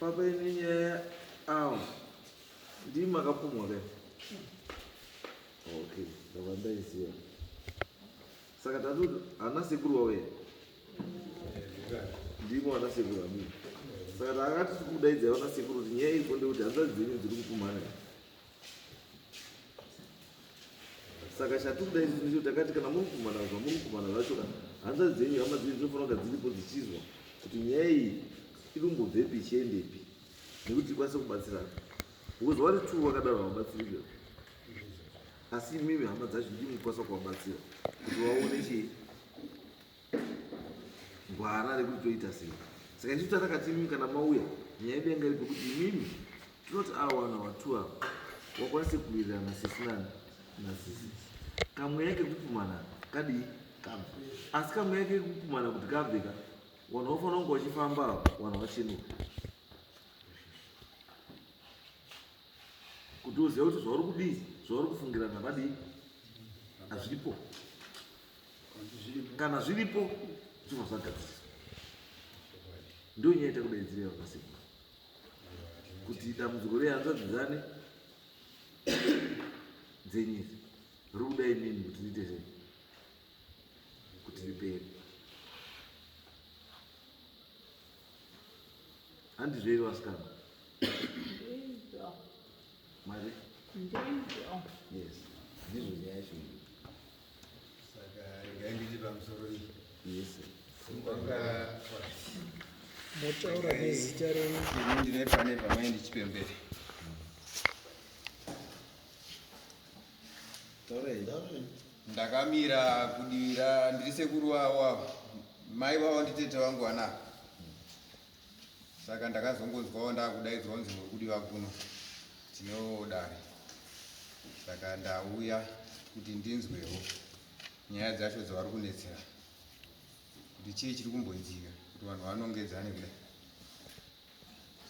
Baba ine nyaya awo ndii makapumwa ka okay ndava ndaiziva saka tatu hana sekuru wawe ndimo ana sekuru amii saka taakati tiri kudaidza vana sekuru kuti nyaya iri konde kuti hanzvadzi dzenyu dziri kupumhana saka chatikuda izvi ndicho takati kana muri kumana zva muri kumana zvacho ka hanzvadzi dzenyu hama dzenyu dzinofanira kunga dziripo dzichizwa kuti nyaya iyi iri kumbobvepi ichiendepi nekuti tikwanise kubatsirana because vari two vakadaro havabatsirike asi imimi hama dzacho ndimukwanisa kuvabatsira kuti vaone chii gwara rekuti toita sei saka isu tatakati imimi kana mauya nyaya yedu yanga iripo kuti imimi tinoti awana watu ava wakwanise kuwirirana sisi nani nasisi kamweya kekupumana kadii kabva asi kamweya kekupumana kuti kabveka vanhu vafanira kunge vachifamba vanhu vachinuka kuti uziva kuti zvauri kudii zvauri kufungirana vadii hazvipo kana zviripo zvino zvagadziriswa ndo nyaya itakudaidzira yavakasekuru kuti dambudziko rehanzvadzi dzane dzenyisi rikuda inini kuti riite sei kuti ripere handizvo iri vasikana mari yes ndizvo nyaya yacho motaura nezita renyu ndine pane vamai ndichipembere ndakamira kudira ndiri sekuru wavo avo mai vavo nditete vangu vanavo saka ndakazongonzwawo ndakudaidzwa kunzi muri kudiwa kuno tinodare saka ndauya kuti ndinzwewo nyaya dzacho dzavari kunetsera kuti chii chiri kumboitika kuti vanhu vanongedzane kudai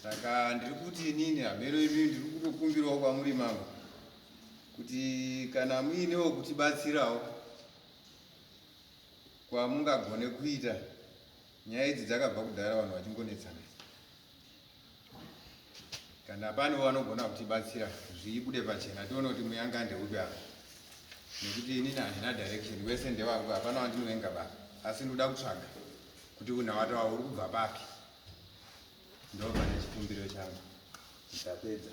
saka ndiri kuti inini hameno imi ndiri kutokumbirawo kwamuri mambo kuti kana muinewo kutibatsirawo kwamungagone kuita Nyaya idzi dzakabva kudhara vanhu vachingonetsana. Kana pano vanogona kutibatsira zviibude pachena tione kuti muyanga ndeupi apa. Nekuti inini handina direction wese ndewangu hapana wandinovenga baba. Asi ndoda kutsvaga kuti unhawata wavo uri kubva papi. Ndobva nechikumbiro changu. Ndapedza.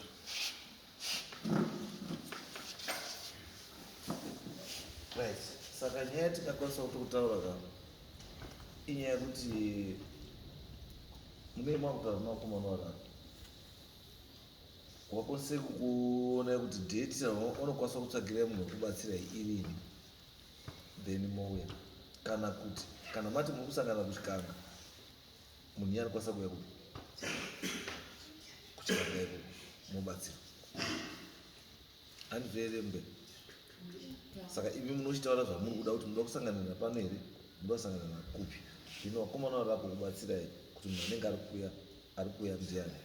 Right. Saka nyaya yatikakwanisa kuti kutaura ka inyaya yekuti munei makutaura nemakomana vakaka wakwanise kuona kuti date unokwanisa kutsvagira munhu wekubatsira irini then mouya kana kuti kana mati muri kusangana kuchikanga munhu iye anokwanisa kuuya kupi kuchiramba iko mobatsira andivere mbe saka imi munochitaura zvamuri kuda kuti munoda kusanganira pano here munoda kusanganira nakupi zvino vakomana vari vako kubatsirai kuti munhu anenge ari kuya ari kuya ndiani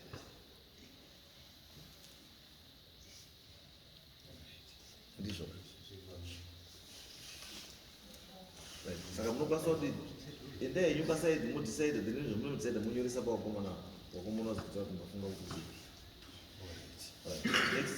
ndizvo saka munokwanisa kuti enda henyu pasaidi mudhisaida then izvo munodhisaida monyoresa pavakomana vakomana vazokuta kuti mafunga kuti zii Right. Next.